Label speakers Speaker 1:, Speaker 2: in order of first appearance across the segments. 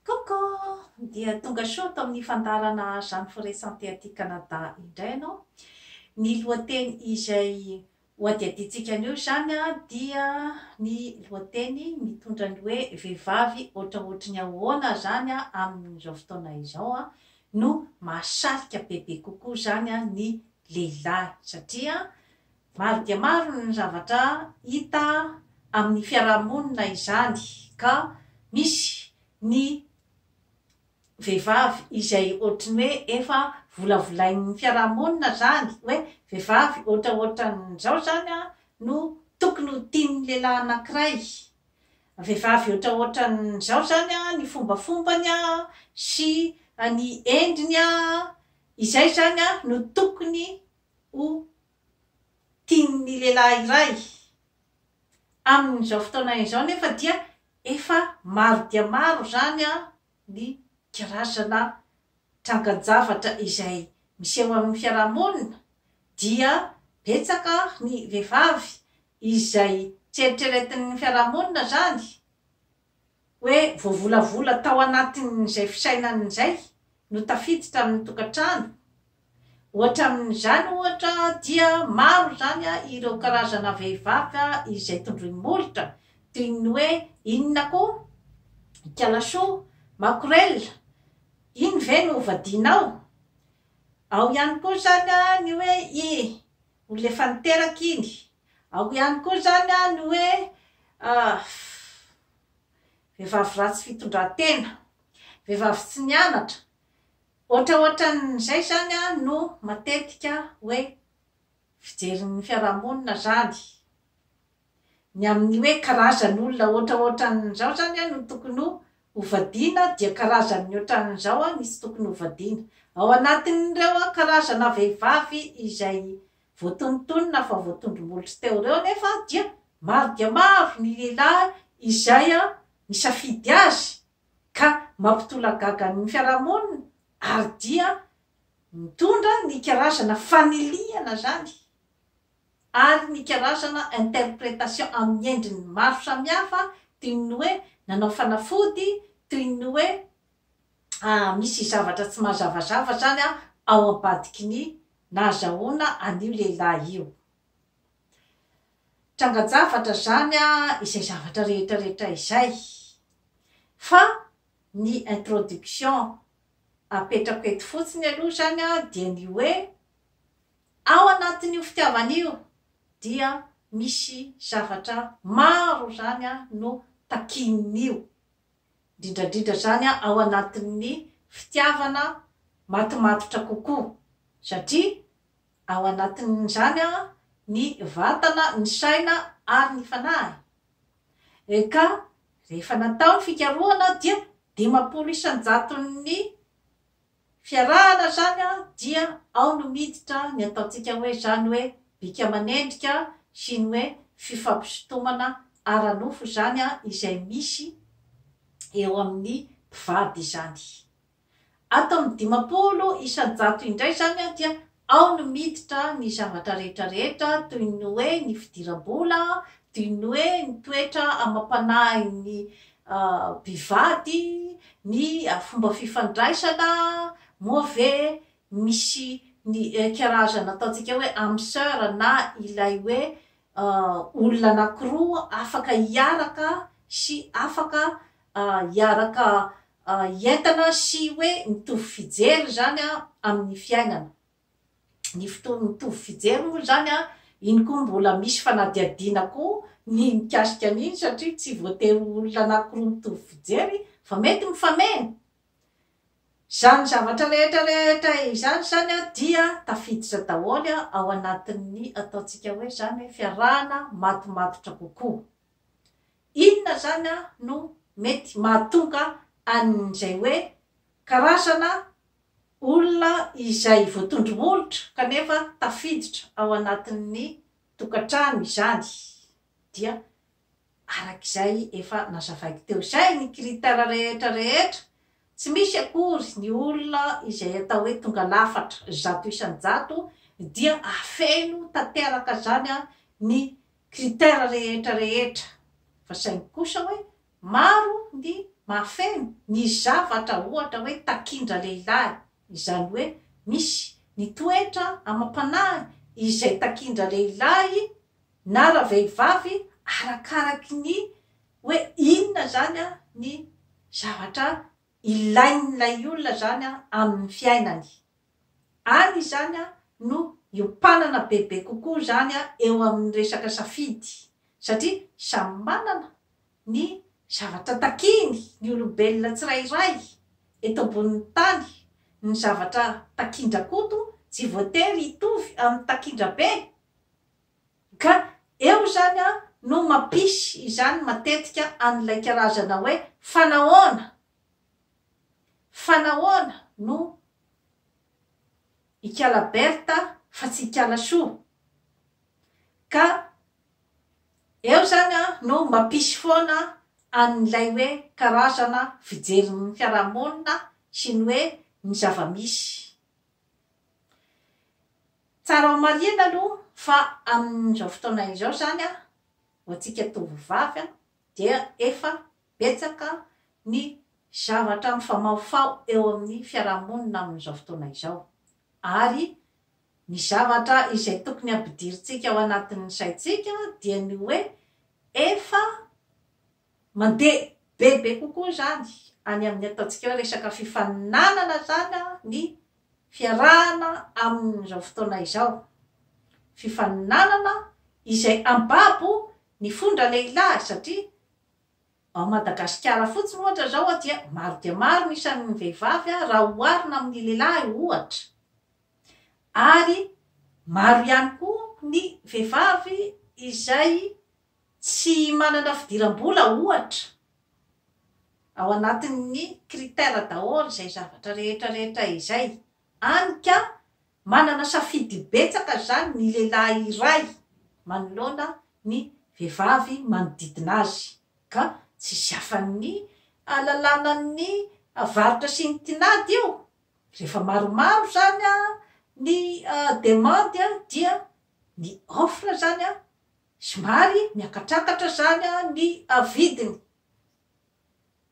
Speaker 1: Coucou! Dia tonga show tao amin'ny fandaharana Jeanne Forêt Santé aty Canada indray ianao. Ny lohateny izay hohadihadiantsika anio izany dia ny lohateny mitondra ny hoe vehivavy ohatraohatry ny ahoana izany amin'izao fotoana izao no mahasarika bebe kokoa izany ny lehilahy satria Maro dia maro ny zavatra hita amin'ny fiaraha-monina izany ka misy ny vehivavy izay ohatry ny hoe efa volavolain'ny fiaraha-monina izany hoe vehivavy ohatraohatran'izao izany no tokony ho tian'ny lehilahy anankiray, vehivavy ohatraohatran'izao izany ny fombafombany sy ny endriny, izay izany no tokony ho tian'ny lehilahy iray. Amin'izao fotoana izao nefa dia efa maro dia maro izany ny karazana trangan-javatra izay miseho amin'ny fiarahamonina dia betsaka ny vehivavy izay tsy eritreretin'ny fiarahamonina izany hoe voavolavola tao anatin'izay fisainany izay no tafiditra amin'ny tokantrano. Hoatramin'izany ohatra dia maro izany ireo karazana vehivavy izay tondroin'ny molotra toy ny hoe inona koa? Ikala soa? Makorela? Iny ve no hovadianao? Ao ihany koa izany ny hoe i, olona efa niteraka iny, Ao ihany koa izany an ny hoe vehivavy ratsy fitondran-tena, vehivavy tsy nianatra, ohatraohatran'izay izany an no matetika hoe fijerin'ny fiarahamonina izany, ny amin'ny hoe karazan'olona ohatraohatran'izao izany an no tokony hovadiana dia karazan'ny ohatran'izao an ny tsy tokony hovadiana, ao anatin'ireo karazana vehivavy izay Voatonontonona fa voatondro-molotra teo ireo anefa dia maro dia maro ny lehilahy izay misafidy azy ka mampitolagaga ny fiarahamonina ary dia mitondra ny karazana fanilihana izany ary ny karazana interpretation amin'ny endriny maro samihafa toy ny hoe nanao fanafody, toy ny hoe. ah misy zavatra tsy mazavazava zany an ao ambadiky ny nahazahoana an'io lehilahy io. Trangan-javatra zany an izay zavatra rehetrarehetra izay fa ny introduction apetrako eto fotsiny aloha zany an dia ny hoe ao anatin'io fitiavana io dia misy zavatra maro zany an no takian'io indrindra indrindra izany ao anatin'ny fitiavana matimatotra kokoa, satria ao anatin'izany ny vatana, ny saina ary ny fanahy. Eka, rehefa natao ny fikarohana dia dimampolo isan-jaton'ny Fiarahana zany an dia ao no miditra ny ataontsika hoe zany hoe bika aman'endrika sy ny hoe fifampisintomana ara-nofo izany an izay misy eo amin'ny mpivady izany. Ato amin'ny dimampolo isan-jato indray zany an dia Ao no miditra ny zavatra rehetra rehetra toy ny hoe ny fidiram-bola, toy ny hoe ny toetra amam-panahin'ny mpivady, ny fomba fifandraisana, moa ve misy ny karazana ataontsika hoe âme sœur na ilay hoe olona anankiroa afaka hiaraka sy afaka hiaraka entana sy hoe mitovy fijery izany an amin'ny fiainana. Ny fotoana mitovy fijery moa izany an, iny koa mbola misy fanadihadiana koa ny mikasika an'iny satria tsy voatery ho olona anankiroa mitovy fijery fa mety mifameno. Izany zavatra rehetra rehetra izany izany an dia tafiditra daholo an ao anatin'ny ataontsika hoe izany hoe fiarahana matomatotra kokoa. Inona izany no mety mahatonga an'izay hoe karazana olona izay voatondro molotra kanefa tafiditra ao anatin'ny tokantrano izany? Dia araka izay efa nazavaiko teo izay ny critère rehetra rehetra, tsy misy akory ny olona izay atao hoe tonga lafatra zato isan-jato dia afeno tanteraka izany ny critère rehetra rehetra fa saingy kosa hoe maro ny mahafeno ny zavatra ohatra hoe takindra-lehilahy izany hoe misy ny toetra amam-panahy izay takindra-lehilahy na ravehivavy arakaraky ny hoe inona izany ny zavatra ilain'ilay olona izany amin'ny fiainany Ary izany no hiompanana bebe kokoa izany eo amin'ny resaka safidy, satria samy manana ny zavatra takiany ny olombelona tsirairay eto ambonin'ny tany, ny zavatra takin-dRakoto tsy voatery hitovy amin'ny takin-dRabe, ka eo izany no mampisy izany matetika an'ilay karazana hoe fanahoana, fanahoana no Ikala Bertha fa tsy Ikala Soa. Ka eo izany an, no mampisy foana an'ilay hoe karazana fijerin'ny fiarahamonina sy ny hoe ny zava-misy. Tsara homarihina aloha fa amin'izao fotoana izao izany an, ho antsika tovovavy an, dia efa Betsaka ny zavatra mifamahofaho eo amin'ny fiarahamonina amin'izao fotoana izao, ary ny zavatra izay tokony hampidirintsika ao anatin'ny saintsika dia ny hoe efa mandeha bebe kokoa izany any amin'ny ataontsika hoe resaka fifaninanana izany ny fiarahana amin'izao fotoana izao. Fifaninanana izay ambabo ny fon-dralehilahy satria Ao Madagasikara fotsiny ohatra izao dia maro dia maro ny isan'ny vehivavy raha oharina amin'ny lehilahy ohatra. Ary maro ihany koa ny vehivavy izay tsy manana fidiram-bola ohatra. Ao anatin'ny critère daholo izay zavatra rehetra rehetra izay. Hany ka Manana safidy betsaka izany ny lehilahy iray manoloana ny vehivavy manodidina azy, ka tsisy afan'ny alalànan'ny varotra sy ny tinady io. Rehefa maromaro izany ny demandy dia ny offre izany somary miakatrakatra izany ny vidiny.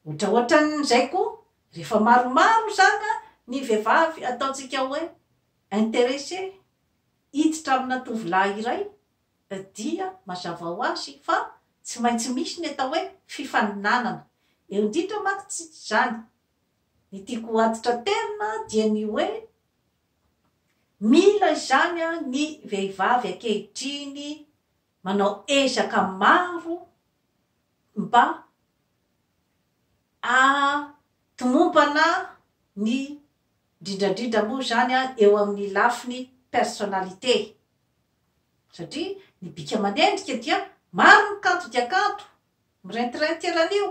Speaker 1: Otraotran'izay koa rehefa maromaro zaka ny vehivavy ataontsika hoe interesse hiditra amina tovolahy iray dia mazava ho azy fa tsy maintsy misy ny atao hoe fifaninanana eo indrindra manko tsy zany ny tiako ho aditra terina dia ny hoe mila izany ny vehivavy ankehitriny manao ezaka maro mba hahatomombana ny, indrindrandrindra moa izany eo amin'ny lafiny personnalité, satria ny bika manendrika dia maro ny kanto dia kanto, Mirentirentry eran'io,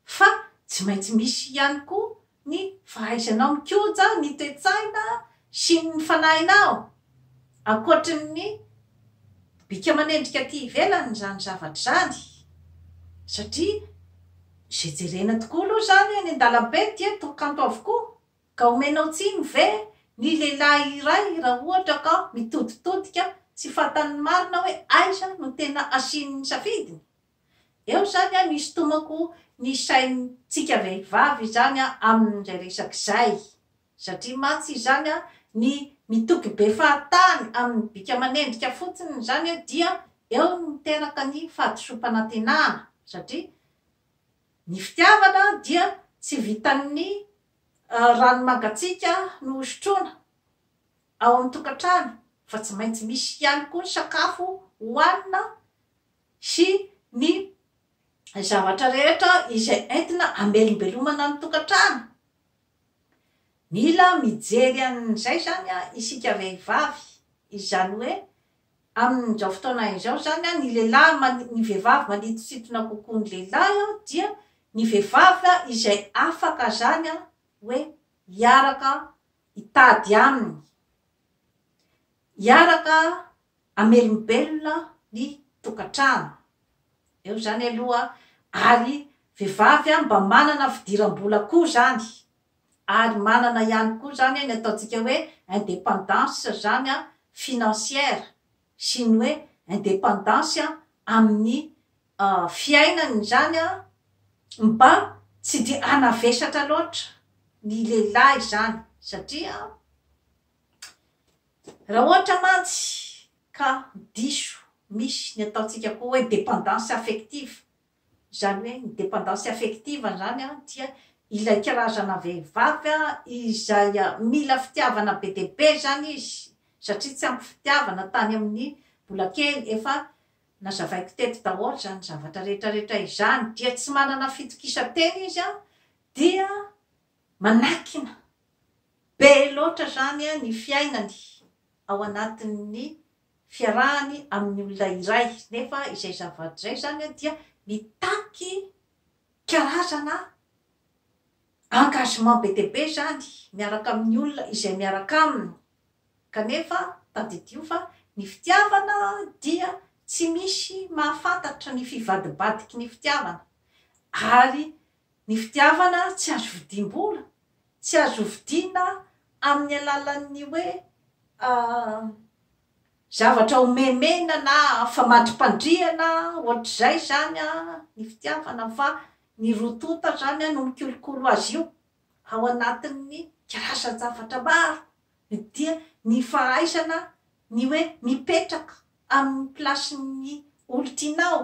Speaker 1: fa tsy maintsy misy ihany koa ny fahaizanao mikoja ny toe-tsaina sy ny fanahinao, ankoatry ny bika manendrika aty ivelany izany zavatra izany, satria izay jerena tokoa aloha izany eny an-dalambe dia toa kanto avokoa. Ka omenao tsiny ve ny lehilahy iray raha ohatra ka mitoditodika tsy fantany ny marina hoe aiza no tena asiany ny safidiny? Eo izany an isintomako ny saintsika vehivavy izany an amin'izay resaka izay. Satria mantsy izany an ny mitoky be fahatany amin'ny bika aman'endrika fotsiny izany an dia eo no miteraka ny fahadisoam-panantenana satria ny fitiavana dia tsy vitan'ny Rano mangatsiaka no hosotroina ao amin'ny tokantrano fa tsy maintsy misy ihany koa ny sakafo hohanina sy ny zavatra rehetra izay entina hamelombelomana ny tokantrano. Mila mijery an'izay izany isika vehivavy, izany hoe Amin'izao fotoana izao izany, ny lehilahy man, ny vehivavy manintosintona kokoa ny lehilahy dia ny vehivavy izay afaka izany hoe hiaraka hitady aminy, hiaraka hamelombelona ny tokantrano. Eo izany aloha, ary vehivavy mba manana fidiram-bola koa izany. Ary manana ihany koa izany ny ataontsika hoe indépendance izany financière sy ny hoe indépendance amin'ny fiainany izany mba tsy dia hanavesatra loatra ny lehilahy izany satria raha ohatra mantsy ka diso misy ny ataontsika koa hoe dépendance affective Izany hoe ny dependance affective izany dia ilay karazana vehivavy izay mila fitiavana be dia be izany izy satria tsy ampy fitiavana tany amin'ny mbola kely, efa nazavaiko teto daholo izany zavatra rehetra rehetra izany, dia tsy manana fitokisan-tena izy dia manakina be loatra izany ny fiainany ao anatin'ny fiarahany amin'ny olona iray nefa izay zavatra izay izany dia mitaky karazana engagement be dia be izany miaraka amin'ny olona izay miaraka aminy kanefa tadidio fa ny fitiavana dia tsy misy mahafantatra ny fivadibadiky ny fitiavana ary Ny fitiavana tsy azo vidim-bola, tsy azo vidiana amin'ny alalan'ny hoe zavatra homemena na famadrim-pandriana ohatr'izay izany ny fitiavana fa ny roa tonta izany no mikolokolo azy io ao anatin'ny karazan-javatra maro dia ny fahaizana ny hoe mipetraka amin'ny plasin'ny olon-tianao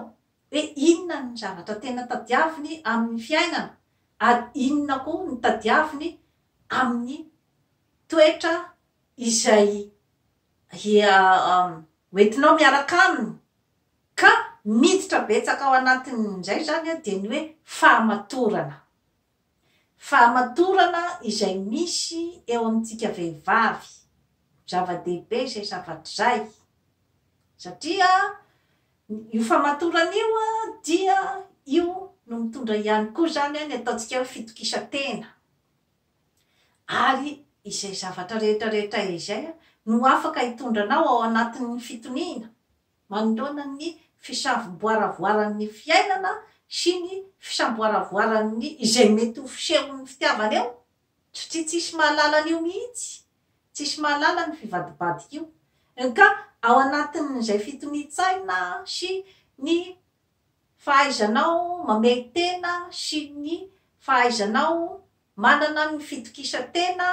Speaker 1: Dia inona ny zavatra tena tadiaviny amin'ny fiainana, ary inona koa ny tadiaviny amin'ny toetra izay hoentinao miaraka aminy? Ka miditra betsaka ao anatin'izay izany dia ny hoe fahamatorana. Fahamatorana izay misy eo amintsika vehivavy, zava-dehibe izay zavatra izay, satria io fahamatorana io dia io no mitondra ihany koa izany ny ataontsika hoe fitokisan-tena, ary izay zavatra rehetra rehetra izay no afaka hitondra anao ao anatin'ny fitoniana, manoloana ny fisamboaravoaran'ny fiainana sy ny fisamboaravoaran'ny izay mety ho fisehon'ny fitiavana eo? Tsy tsisy mahalala an'io mihitsy. Tsisy mahalala ny fivadibadik'io. Nka ao anatin'izay fitonian-tsaina sy ny fahaizanao mamehy tena sy ny fahaizanao manana ny fitokisan-tena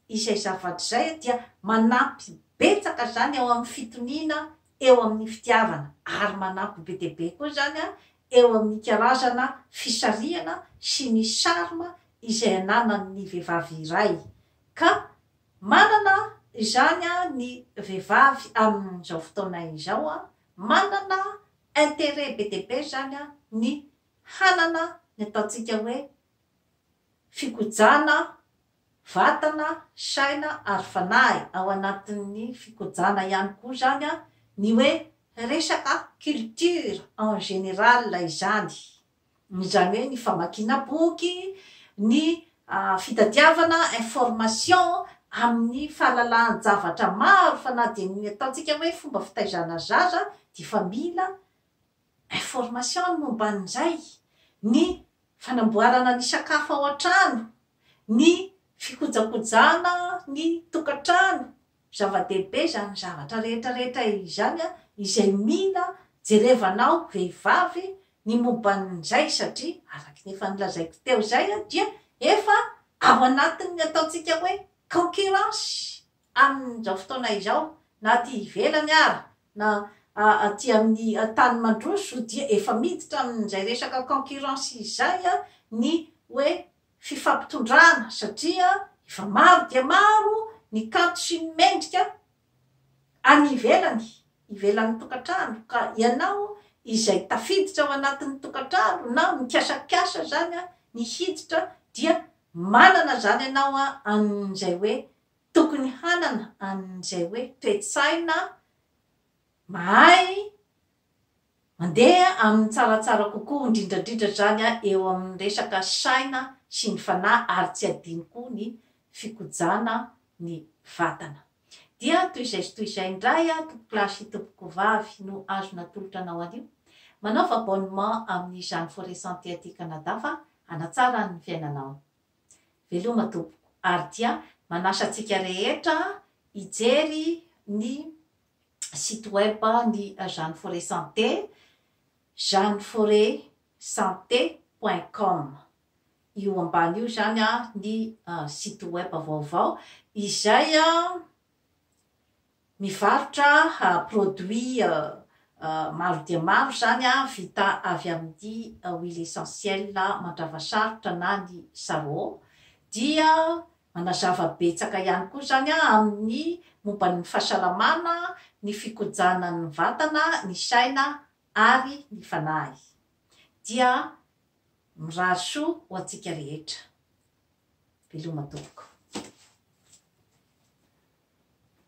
Speaker 1: izay zavatra izay dia manampy betsaka izany ao amin'ny fitoniana eo amin'ny fitiavana ary manampy be dia be koa izany eo amin'ny karazana fisarihana sy ny charme izay ananan'ny vehivavy iray ka manana izany ny vehivavy amin'izao fotoana izao manana intérêt be dia be izany an, ny hanana ny ataontsika hoe fikojana vatana, saina ary fanahy. Ao anatin'ny fikojana ihany koa izany an, ny hoe resaka culture en général izany. izany hoe ny famakiana boky, ny fitadiavana information amin'ny fahalalahan-javatra maro fa na dia ny ataontsika hoe fomba fitaizana zaza dia efa mila information ny momba an'izay, ny fanamboarana ny sakafo ao an-trano, ny fikojakojana ny tokantrano, Zava-dehibe izany zavatra rehetra rehetra izany izay mila jerevanao vehivavy ny momban'izay satria araka ny efa nolazaiko teo izay dia efa ao anatin'ny ataontsika hoe concurrence amin'izao fotoana izao na aty ivelany ary na aty amin'ny tany mandroso dia efa miditra amin'izay resaka concurrence izay ny hoe fifampitondrana satria efa maro dia maro ny kanto sy ny mendrika any ivelany, ivelan'ny tokantrano ka ianao izay tafiditra ao anatin'ny tokantrano na mikasakasa izany ny hiditra dia manana izany ianao an'izay hoe tokony hanana an'izay hoe toe-tsaina mahay Mandeha amin'ny tsaratsara kokoa indrindrandrindra izany eo amin'ny resaka saina sy ny fanahy ary tsy adino koa ny fikojana ny vatana. Dia toy izay sy toy izay indray aho tompokolahy sy tompokovavy no azo natolotra anao anio. Manaova abonnement amin'izany Forêt Santé aty Canada fa hanatsara ny fiainanao. Veloma tompoko ary dia manasa antsika rehetra hijery ny site web ny Jeanne Forêt Santé, jeanneforetsanté point com. Io ambany io izany ny site web vaovao izay mivarotra produits maro dia maro izany vita avy amin'ny huile essentielle mandrava sarotra na ny sarro dia Manazava betsaka ihany koa izany amin'ny momba ny fahasalamana, ny fikojanan'ny vatana, ny saina ary ny fanahy. Dia mirary soa ho antsika rehetra. Veloma tompoko.